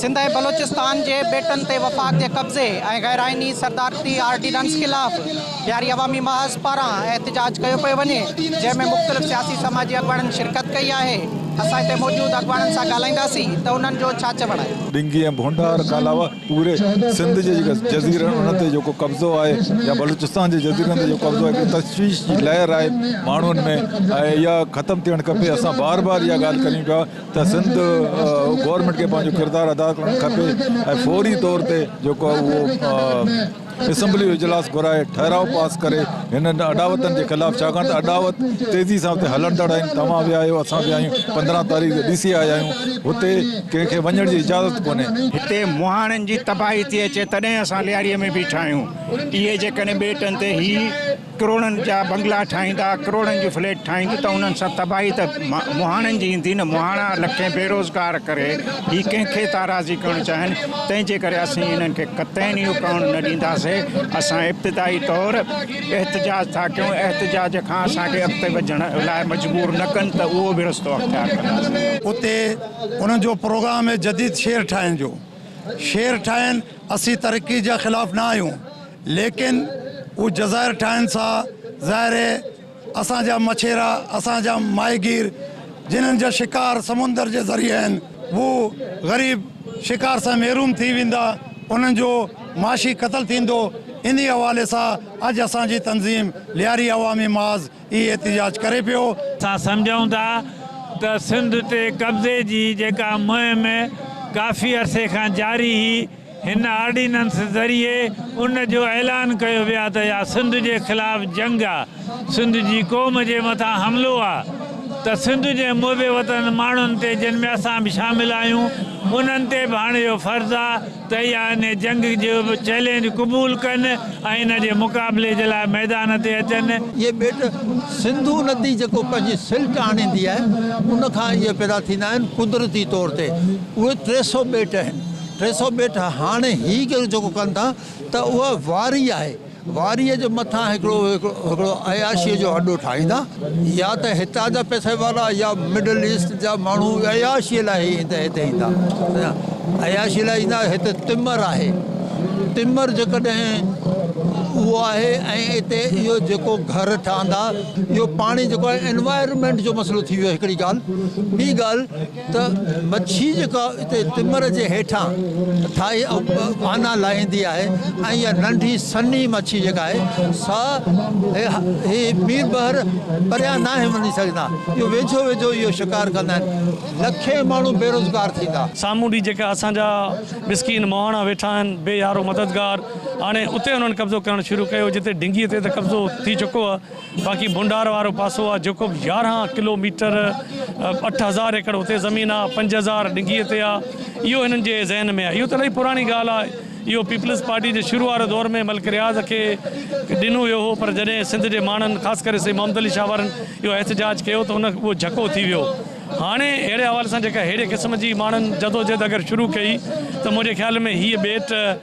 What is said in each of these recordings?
سنڌ ۽ بلوچستان جي ٻيٽن تي وفاق جي قبضي ۽ غير آئيني صدارتي آرڊيننس خلاف بهاري عوامي محاذ پاران احتجاج ڪيو پيو وڃي جنهن ۾ مختلف سياسي سماجي اڳواڻن شرڪت ڪئي آهي اسان هتي موجود اڳواڻن سان ڳالهائينداسين ته انهن جو ڇا چوڻ آهي. ڏنگي ۽ ڀونڊار کان علاوه پوري سنڌ جي جيڪا جزيرن انهن تي جيڪو قبضو آهي يا بلوچستان جي جزيرن تي جيڪو قبضو آهي هڪڙي تشويش جي لهر آهي ماڻهن ۾ ۽ اها ختم ٿيڻ کپي اسان بار بار اها ڳالهه ڪريون پيا ته سنڌ گورنمينٽ کي پنهنجو ڪردار ادا ڪرڻ کپي ۽ فوري طور تي جيڪو اهو اسيمبلي جو اجلاس گهرائي ٺهراء پاس ڪري هنن اڏاوتن جي خلاف ڇاڪاڻ ته اڏاوت تيزي سان اتي هلندڙ آهن توهان ويا آهيو اسان ويا آهيون پندرهن تاريخ جو ڏسي آيا آهيون هتي ڪنهن کي وڃڻ جي اجازت ڪونهي. هتي مهاڻن جي تباهي ٿي اچي تڏهن اسان لياري ۾ بيٺا آهيون اهي جيڪڏهن ٻيٽن تي هي ڪروڙن جا بنگلا ٺاهيندا، ڪروڙن جون فليٽ ٺاهيند ته انهن سان تباهي ته مهاڻن جي ايندي نه، مهاڻا لکين بيروزگار ڪري هي ڪنهن کي ٿا راضي ڪرڻ چاهين، تنهن جي ڪري اسين انهن کي قطعين اهو ڪرڻ نه ڏينداسين، اسان ابتدائي طور احتجاج ٿا ڪيون، احتجاج کان اسان کي اڳتي وڌڻ لاء مجبور نه ڪن ته اهو به رستو اختيار ڪنداسين. اتي انهن جو پروگرام آهي جديد شهر ٺاهڻ جو، شهر ٺاهين، اسين ترقي جا خلاف نه آهيون، ليڪن هو جزائر ٺاهن سا ظاهر هي اسان جا مڇيرا اسان جا ماهيگير جنهن جا شڪار سمندر جي ذريعي آهن هو غريب شڪار سان محروم ٿي ويندا انهن جو معاشي قتل ٿيندو انهي حوالي سا اڄ اسان جي تنظيم لياري عوامي محاذ اهي احتجاج ڪري پيو. اسان سمجهون ٿا ته سنڌ تي قبضي جي جيڪا مهم ڪافي عرصي کان جاري هي. هن آرڊيننس ذريعي ان جو اعلان ڪيو ويو آهي ته اها سنڌ جي خلاف جنگ آهي، سنڌ جي قوم جي مٿان حملو آهي ته سنڌ جي محب وطن ماڻهن تي جن ۾ اسان به شامل آهيون انهن تي به هاڻي اهو فرض آهي ته اها ان جنگ جو چئلينج قبول ڪن ۽ ان جي مقابلي جي لاء ميدان تي اچن. اهي ٻيٽ سنڌو ندي جيڪو پنهنجي سلٽ آڻيندي آهي ان کان اهي پيدا ٿيندا آهن قدرتي طور تي اهي ٽي سؤ ٻيٽ آهن. ٽي سؤ ٻيٽ هاڻي هي ڪيو جيڪو ڪن ٿا ته اها واري آهي واري جي مٿان هڪڙو هڪڙو عياشي جو اڏو ٺاهيندا يا ته هتان جا پئسي وارا يا مڊل ايسٽ جا ماڻهو عياشي لاء هي هتي ايندا عياشي لاء ايندا هتي تمر آهي تمر جيڪڏهن اهو آهي ۽ اتي اهو جيڪو گهر ٺهندا اهو پاڻي جيڪو انوائرمنٽ جو مسئلو ٿي ويو هڪڙي ڳالهه ٻي ڳالهه ته مڇي جيڪا اتي تمر جي هيٺان ٿائي آنا لاهيندي آهي ۽ اها ننڍي سنهي مڇي جيڪا آهي سا هي ميل ٻهر پريان ناهي وڃي سگهندا اهو ويجهو ويجهو اهو شڪار ڪندا آهن لکين ماڻهو بيروزگار ٿيندا. سامونڊي جيڪا اسان جا مسڪين مهاڻا ويٺا آهن بي يارو مددگار هاڻي اتي انهن قبضو ڪرڻ شروع ڪيو جتي ڍنگي تي ته قبضو ٿي چڪو آهي. باقي ڀونڊار وارو پاسو آ جيڪو به يارهن ڪلو ميٽر اٺ هزار ايڪڙ اتي زمين آ پنج هزار ڊگهي تي آ اهو هنن جي ذهن ۾ آ اهو ته الاهي پراڻي ڳالهه آ اهو پيپلز پارٽي جي شروع واري دور ۾ ملڪ رياض کي ڏنو ويو هو پر جڏهن سنڌ جي ماڻهن خاص ڪري سيد محمد علي شاهه وارن اهو احتجاج ڪيو ته ان اهو جهڪو ٿي ويو هاڻي اهڙي حوالي سان جيڪا ههڙي قسم جي ماڻهن جدوجهد اگر شروع ڪئي ته منهنجي خيال ۾ هيء ٻيٽ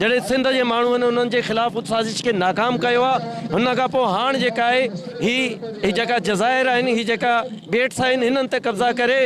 جڏهن سنڌ جي ماڻهن انهن جي خلاف ان سازش کي ناڪام ڪيو آ ان کان پوء هاڻ جيڪا آهي هي هي جيڪا جزائر آهن هي جيڪا ٻيٽس آهن هنن تي قبضا ڪري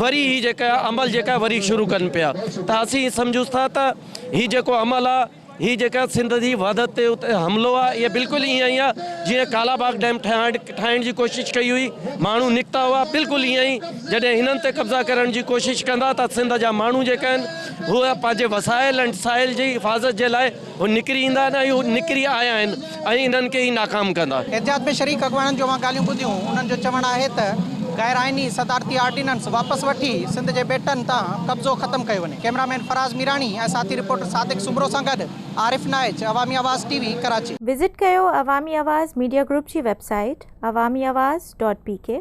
وري هي جيڪا عمل جيڪا وري شروع ڪن پيا ته اسين سمجهوس ٿا ته هي جيڪو عمل آ هي جيڪا سنڌ جي وحدت تي اتي حملو آ هي بلڪل ايئن ئي آ جيئن ڪالا باغ ڊيم ٺهائڻ ٺاهڻ جي ڪوشش ڪئي هئي ماڻهو نڪتا هئا بلڪل ايئن ئي جڏهن هنن تي قبضا ڪرڻ جي ڪوشش ڪندا ته سنڌ جا ماڻهو جيڪا آهن هو پنهنجي وسائل ۽ ٽسائل جي حفاظت جي لاء هو نڪري ايندا آهن ۽ هو نڪري آيا آهن ۽ انهن کي ئي ناڪام ڪندا. احتجاج ۾ شريڪ اڳواڻن جو اوهان ڳالهيون ٻڌيون، انهن جو چوڻ آهي ته غير آئيني صدارتي آرڊيننس واپس وٺي سنڌ جي ٻيٽن تان قبضو ختم ڪيو وڃي. ڪئميرا مين فراز ميراڻي ۽ ساٿي رپورٽر صادق سومرو سان گڏ عارف Naich, Awami Awaz T V, Karachi. Visit ڪيو عوامي آواز ميڊيا گروپ جي website Awami Awaz dot P ڪي.